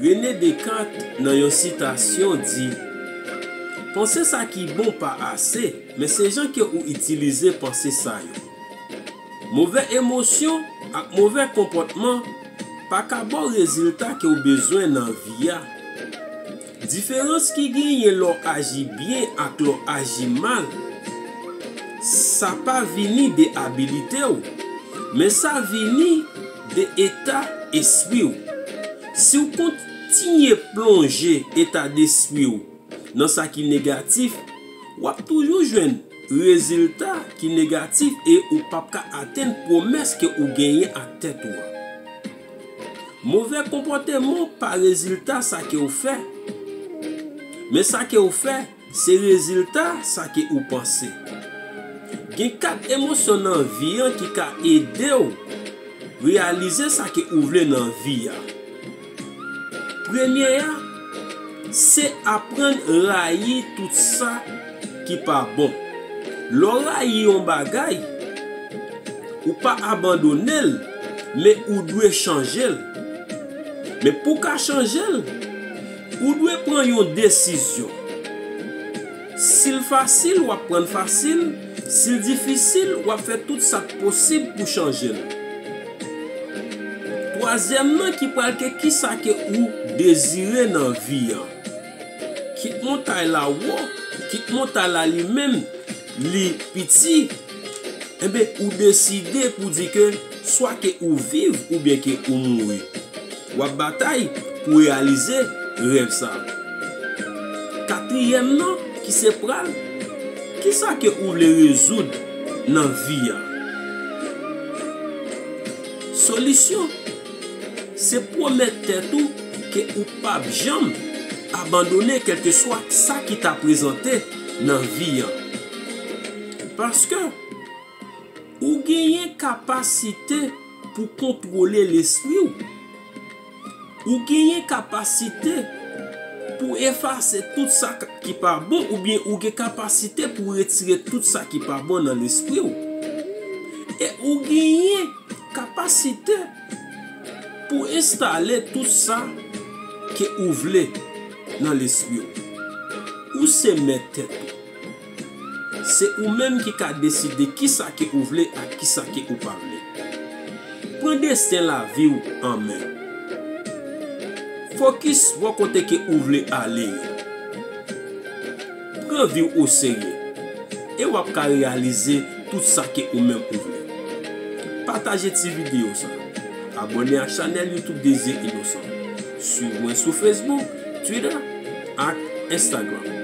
Rene Dekat nan yon sitasyon di, Panse sa ki bon pa ase, men se jan ke ou itilize panse sa yo. Move emosyon ak move konpòtman pa ka ba w rezilta ke w bezwen nan vi a. Diferans ki genyen lè w aji byen ak lè w aji mal, sa pa vini de abilite w, men sa vini. de eta espri w. Si w kontinye plonje eta despri w nan sa ki negatif, w ap toujou jwenn rezilta ki negatif e ou p ap ka atenn pwomès ke ou genyen ak tèt ou an. Move konpòteman w pa rezilta sa ke w fè, men sa ke w fè. Se rezilta sa ke ou panse. Gen 4 emosyon nan vi an ki ka ede w reyalize sa ke ou vle nan vi a. Premye a, se aprann rayi tout sa ki pa bon. Lè w rayi yon bagay, ou pa abandone l, men ou dwe chanje l. Men pou w ka chanje l, Ou dwe pran yon desizyon. Si l fasil, w ap pran l fasil, si l difisil, w ap fè tout sa k posib pou chanje l. Twazyèm nan ki pral ke kisa ke ou dezire nan vi an. Kit montay la wo, kit montay la limenm. li piti, enben ou deside pou di ke swa ke ou viv oubyen ke ou mouri, w ap batay pou reyalize rèv sa. Katriyèm nan ki se pral, kisa ke ou vle rezoud nan vi a? Solisyon. Se pwomèt tèt ou ke ou pap janm abandone kèlkeswa sa ki ta prezante nan vi an. Paske, ou genyen kapasite pou kontwole lespri ou. Ou genyen kapasite pou efase tout sa ki pa bon oubyen ou gen kapasite pou retire tout sa ki pa bon nan lespri ou. E ou genyen. Kapasite pou enstale tout sa ke ou vle nan lespri w. Ou se mèt tèt ou. Se ou menm ki ka deside kisa ke ou vle ak kisa ke ou pa vle. Pran desten lavi w an men. Fokis bò kote ke ou vle ale yo. Pran vi w oserye e w ap ka reyalize tout sa ke ou menm ou vle. Pataje ti videyo sa. Abòne ak chanèl YouTube Désir Innocent. Swiv mwen sou Facebook, Twitter ak Instagram.